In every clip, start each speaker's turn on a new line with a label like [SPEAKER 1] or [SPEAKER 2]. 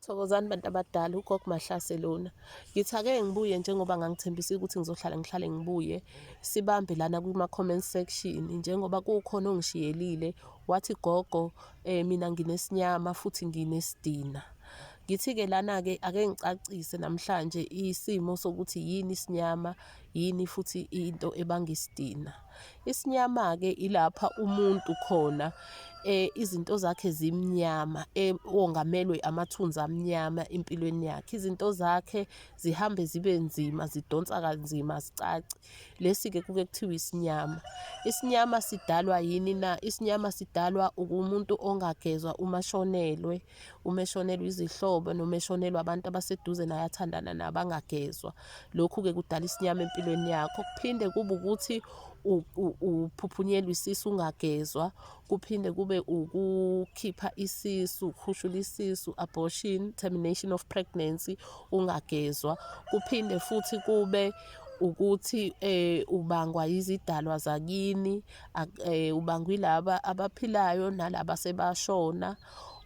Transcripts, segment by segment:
[SPEAKER 1] Thokozani bantu abadala ugogo Mahlase lona. Ngithi ake ngibuye njengoba ngangithembisile ukuthi ngizohlala ngihlale ngibuye. Sibambe lana kuma comment section njengoba kukhona ongishiyelile wathi gogo eh mina nginesinyama futhi nginesidina. Ngithi-ke lana-ke ake ngicacise namhlanje isimo sokuthi yini isinyama Yini futhi into ebanga isidina? Isinyama-ke ilapha umuntu khona eh izinto zakhe zimnyama ongamelwe amathunzi amnyama empilweni yakhe izinto zakhe zihambe zibe nzima zidonsa kanzima zicaci lesi ke kuke kuthiwa isinyama isinyama sidalwa yini na isinyama sidalwa ukumuntu ongagezwa uma shonelwe uma eshonelwa izihlobo noma eshonelwa abantu abaseduze naye athandana nabo angagezwa lokhu-ke kudala isinyama empilweni yakho kuphinde kube ukuthi uphuphunyelwa isisu ungagezwa kuphinde kube ukukhipha isisu ukhushula isisu abortion termination of pregnancy ungagezwa kuphinde futhi kube ukuthi eh ubangwa izidalwa zakini eh ubangwa ilaba abaphilayo nalaba sebashona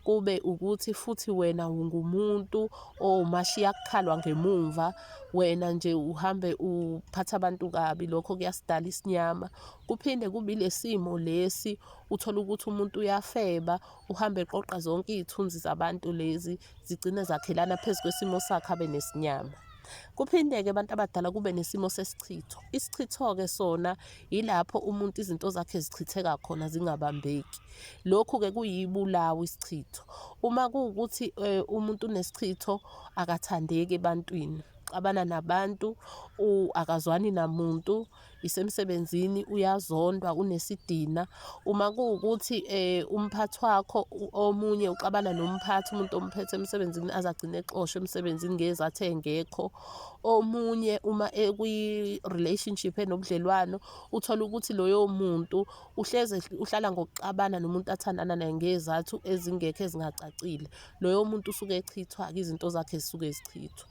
[SPEAKER 1] kube ukuthi futhi wena ungumuntu owumashiya kukhalwa ngemumva wena nje uhambe uphatha abantu kabi lokho kuyasidala isinyama kuphinde kubi lesimo lesi uthola ukuthi umuntu uyafeba uhambe eqoqa zonke izithunzi zabantu lezi zigcine zakhelana phezu kwesimo sakhe abe nesinyama kuphinde-ke abantu abadala kube nesimo sesichitho isichitho-ke sona Yilapho umuntu izinto zakhe zichitheka khona zingabambeki. Lokhu-ke kuyibulawa isichitho. Uma kuwukuthi eh, umuntu unesichitho akathandeki ebantwini, uxabana nabantu, akazwani namuntu, isemsebenzini uyazondwa, unesidina. Uma kuwukuthi eh, umphathi wakho omunye uxabana nomphathi, umuntu omphethe emsebenzini azagcine exoshwe emsebenzini ngezathe engekho. omunye uma ekwi-relationship enobudlelwano uthole ukuthi loyo muntu uhleze uhlala ngokuxabana nomuntu athandana naye ngezathu ezingekho ezingacacile loyo muntu usuke echithwa-ke izinto zakhe zisuke zichithwa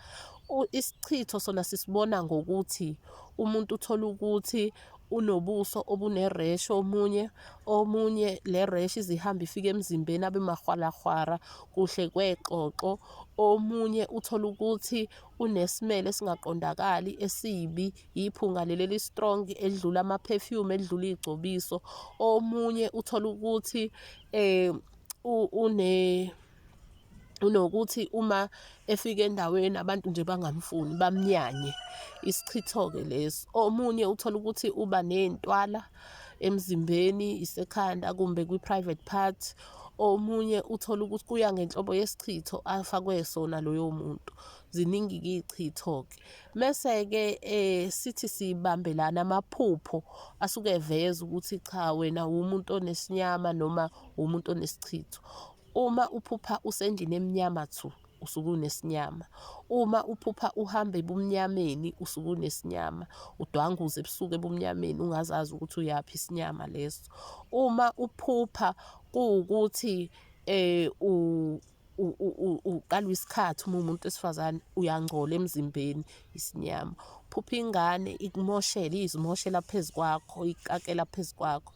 [SPEAKER 1] isichitho sona sisibona ngokuthi umuntu uthole ukuthi unobuso obuneresh omunye omunye le resh izihamba ifike emzimbeni abe mahwalahwara kuhle kwexoxo Omunye uthola ukuthi unesimele esingaqondakali esibi, yiphunga leli eli-strong elidlula ama-perfume, elidlula iy'gcobiso. Omunye uthola ukuthi une unokuthi uma efika endaweni abantu nje bangamfuni bamnyanye isichitho-ke lesi omunye uthola ukuthi uba ney'ntwala emzimbeni isekhanda kumbe kwi-private part omunye uthole ukuthi kuya ngenhlobo yesichitho afakwe sona loyo muntu ziningi-ke iy'chitho-ke mese-ke um sithi sibambelana amaphupho asuke eveza ukuthi cha wena wumuntu onesinyama noma wumuntu onesichitho uma uphupha usendlini emnyama thu usuke unesinyama uma uphupha uhamba ebumnyameni usuke unesinyama udwanguze ebusuku ebumnyameni ungazazi ukuthi uyaphi isinyama leso uma uphupha kuwukuthi eh u uqalwa isikhathi uma umuntu wesifazane uyangcola emzimbeni isinyama phupha ingane ikumoshele izimoshela phezu kwakho ikakela phezu kwakho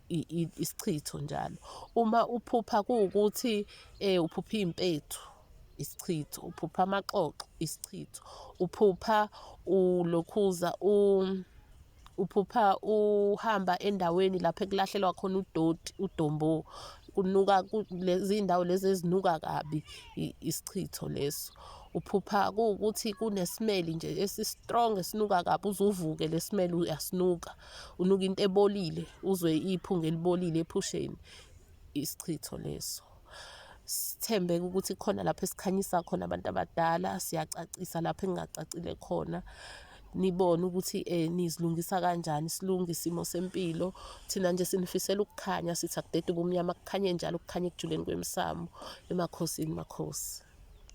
[SPEAKER 1] isichitho njalo. Uma uphupha kuwukuthi um uphupha iy'mpethu, isichitho, uphupha amaxoxo, isichitho, uphupha ulokhuza uphupha uhamba endaweni lapho ekulahlelwa khona udoti, udombo, kunuka lezi ndawo lezi ezinuka kabi, isichitho leso. Uphupha kuwukuthi kunesimeli nje esi-strong esinuka kabi, uze uvuke le simele uyasinuka. unuka into ebolile uzwe iphunga elibolile ephusheni isichitho leso sithembeke ukuthi khona lapho esikhanyisa khona abantu abadala siyacacisa lapho engingacacile khona nibone ukuthi eh nizilungisa kanjani silunge isimo sempilo thina nje sinifisela ukukhanya sithi akudede ubumnyama kukhanye njalo kukhanye ekujuleni kwemsamo emakhosini makhosi